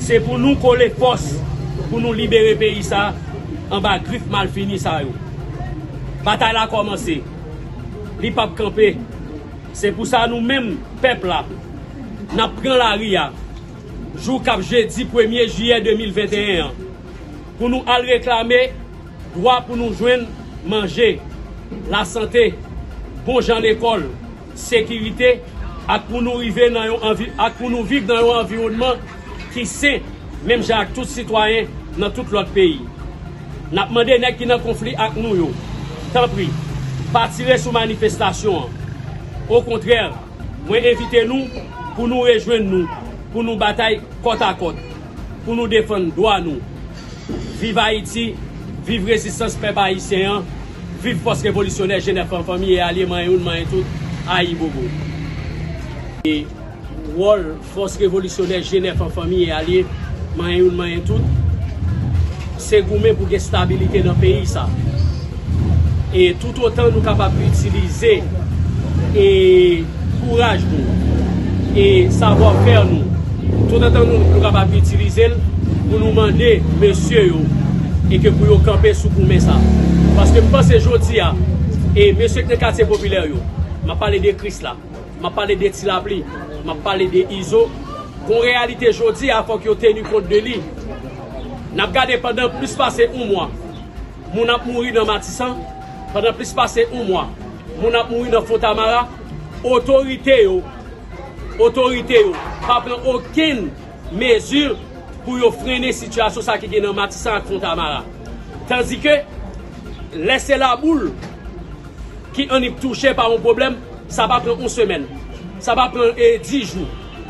Se pou nou kole fòs pou nou libere peyi sa anba grif malfini sa yo. Batay la kòmanse, li pap kanpe. Se pou sa nou menm pèp la, n ap pran lari a jou k ap jedi premye jiyè 2021 an pou nou al reklame dwa pou nou jwenn manje, lasante, bon jan lekòl, sekirite ak pou nou rive nan yon anvi ak pou nou viv nan yon anviwònman ki sen menm jan ak tout sitwayen nan tout lòt peyi. N ap mande nèg ki nan konfli ak nou yo, tanpri, pa tire sou manifestasyon an. Okontrè, mwen envite nou pou nou rejwenn nou pou nou batay kòtakòt pou nou defann dwa nou. Viv Ayiti, viv rezistans pèp ayisyen an! Viv fòs revolisyonè jenè fanm fanmi e alye manyen youn manyen tout ayibobo. E wòl fòs revolisyonè jenè fanm fanmi e alye manyen youn manyen tout se goumen pou gen stabilite nan peyi sa e toutotan nou kapab itilize e. kouraj nou e savwa fè nou tout antan nou kapab itilize l pou nou mande mesye yo e ke pou yo kanpe sou goumen sa paske m panse jodi a e mesye k nan katye popilè yo m ap pale de kris la m ap pale de ti lapli m ap pale de izo gon reyalite jodi a fòk yo teni kont de li n ap gade pandan plis pase yon mwa. Moun ap mouri nan Matisan pandan plis pase yon mwa, moun ap mouri nan Fontamara, otorite yo otorite yo pa pran okenn mezi pou yo frennen sitiyasyon sa ki gen nan Matisan ak Fontamara. Tandike, lè se Laboul ki annik touche pa yon pwoblèm, sa pa pran yon semèn, sa pa pran dis jou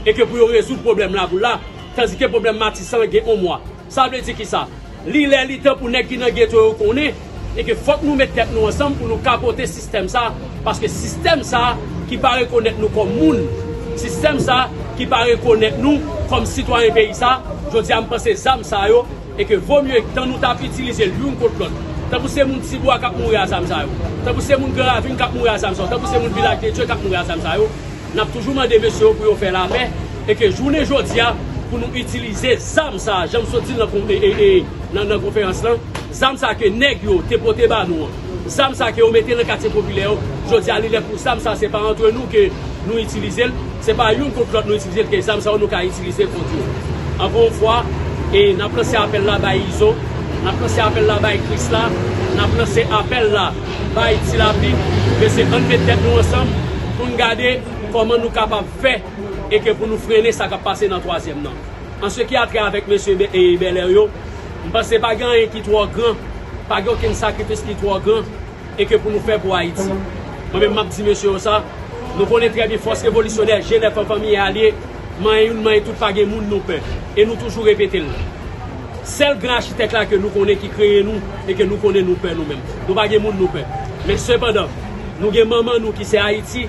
e ke pou yo rezoud pwoblèm Laboul la, tandike pwoblèm Matisan gen yon mwa. Sa vle di kisa? Li lè li tan pou nèg ki nan geto yo konnen e ke fòk nou met tèt nou ansanm pou nou kapote sistèm sa paske sistèm sa ki pa rekonèt nou kòm moun, sistèm sa ki pa rekonèt nou kòm sitwayen peyi sa, jodi a m panse zam sa yo e ke vo mye tan nou ta itilize l youn kont lòt. Tankou se moun Tibwa k ap mouri a zam sa yo, tankou se moun Gran Ravin k ap mouri a zam sa yo, tankou se moun Vilaj de Dye k ap mouri a zam sa yo, N ap toujou mande mesye yo pou yo fè lapè e ke jounen jodi a pou nou itilize zam sa a, jan m sot di l nan konferans lan, zam sa a ke nèg yo te pote ba nou an, zam sa a ke yo mete nan katye popilè yo, jodi a li lè pou zam sa a se pa antre nou ke nou itilize l, se pa youn kont lòt nou itilize l ke zam sa yo nou ka itilize kont yo. Ankò yon fwa, e n ap lanse apèl la bay Izo, n ap lanse apèl la bay Krisla, n ap lanse apèl la. bay Ti Lapli men se ann met tèt nou ansanm pou n gade kòman nou kapab fè e ke pou nou frennen sa k ap pase nan twazyèm nan. An se ki a trè avèk mesye Bèlè yo, m panse pa gen anyen ki twò gran, pa gen okenn sakrifis ki twò gran e ke pou nou fè pou Ayiti. Mwen menm m ap di mesye yo sa, nou konnen trè byen fòs revolisyonè Jenèf anfanmiye a l ye, manyen youn manyen tout pa gen moun nou pè e nou toujou repete l. Sèl gran Achitèk la ke nou konnen ki kreye nou e ke nou konnen nou pè nou menm. Nou pa gen moun nou pè. Men sepandan, nou gen manman nou ki se Ayiti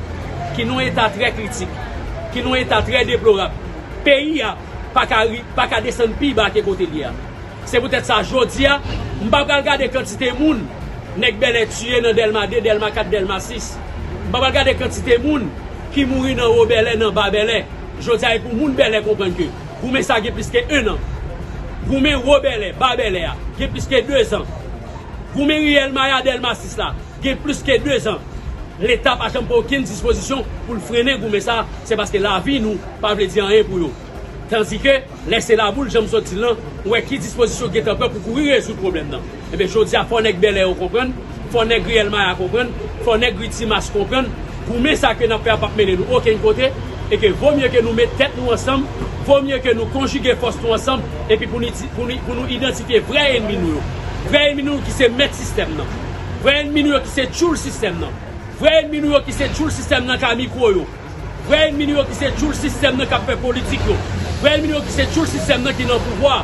ki nou eta trè kritik, ki nou eta trè deplorab. Peyi a pa ka ri, pa ka desann pi ba ke kote l ye a. Se poutèt sa, jodi a, m pa pral gade kantite moun nèg Bèlè tiye nan Dèlma 2, Dèlma 4, Dèlma 6. M pa pral gade kantite moun ki mouri nan Wo Bèlè, nan Ba Bèlè. Jodi a e pou moun Bèlè konprann ke goumen sa gen plis ke 1 an. Goumen Wo Bèlè, Ba Bèlè a gen plis ke 2 zan. Goumen Riyèl Maya Dèlma 6 la gen plis ke 2 zan. Leta pa janm pran okenn dispozisyon pou l frennen goumen sa se paske lavi nou pa vle di anyen pou yo. Tandike. Lè se laboul, jan m sot di l lan, ou wè ki dispozisyon ki gentan pran pou kouri rezoud pwoblèm nan. Enben jodi a fò nèg Bèlè yo konprann, fò nèg Riyèl Maya konprann, fò nèg Ri Timas konprann, goumen sa ke n ap fè a p ap mennen nou okenn kote, e ke vo mye ke nou met tèt nou ansanm, vo mye ke nou konjige fòs nou ansanm, epi pou nou di, pou nou, pou nou idantifye vrè enmi nou yo. Vrè enmi nou yo ki se mèt sistèm nan. Vrè enmi nou yo ki se tchoul sistèm nan. Vrè enmi nou yo ki se tchoul sistèm nan ka mikwo yo. Vrè enmi nou yo ki se tchoul sistèm nan kap fè politik yo, vrè enmi nou yo ki se tchoul sistèm nan ki nan pouvwa,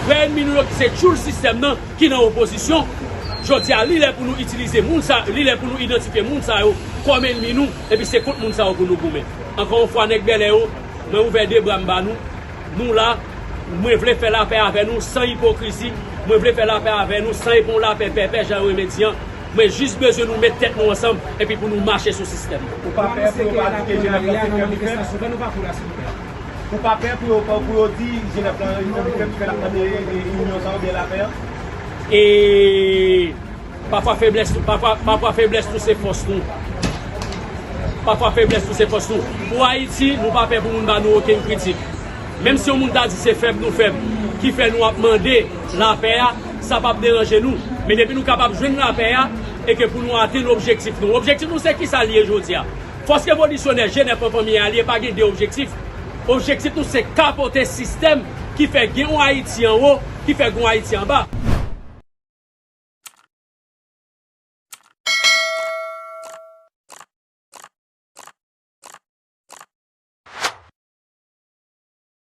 vrè enmi nou yo ki se tchoul sistèm nan ki nan opozisyon, jodi a li lè pou nou itilize moun sa yo, li lè pou nou idantifye moun sa yo kòm enmi nou epi se kont moun sa yo pou nou goumen. Ankò yon fwa nèg Bèlè yo, mwen ouvè 2 bra m ba nou, nou la, mwen vle fè lapè avè nou san ipokrizi, mwen vle fè lapè avè nou san epon lapè pèpè jan yo renmen di an, Mwen jis bezwen nou met tèt nou ansanm epi pou nou mache sou sistèm nan. Ou pa pè pou yo pa di ke Jenèf lan se kè Picpèp? Ou pa pè pou yo pou yo di Jenèf lan se kè Picpèp ki fè n ap mande inyon sa a oubyen lapè an? E Pafwa feblès tou pafwa pafwa feblès tou se fòs nou pafwa feblès tou se fòs nou pou Ayiti nou pa pè pou moun ba nou okenn kritik menm si yon moun ta di se fèb nou fèb ki fè nou ap mande Lapè a, sa pap deranje nou. Men depi nou kapab jwenn lapè a, e ke pou nou atenn objektif nou. Objektif nou se kisa li ye jodi a? Fòs revolisyonè Jenèf an Fanmi Alye pa gen 2 objektif. Objektif nou se kapote sistèm ki fè gen yon Ayiti anwo, ki fè gen yon Ayiti anba.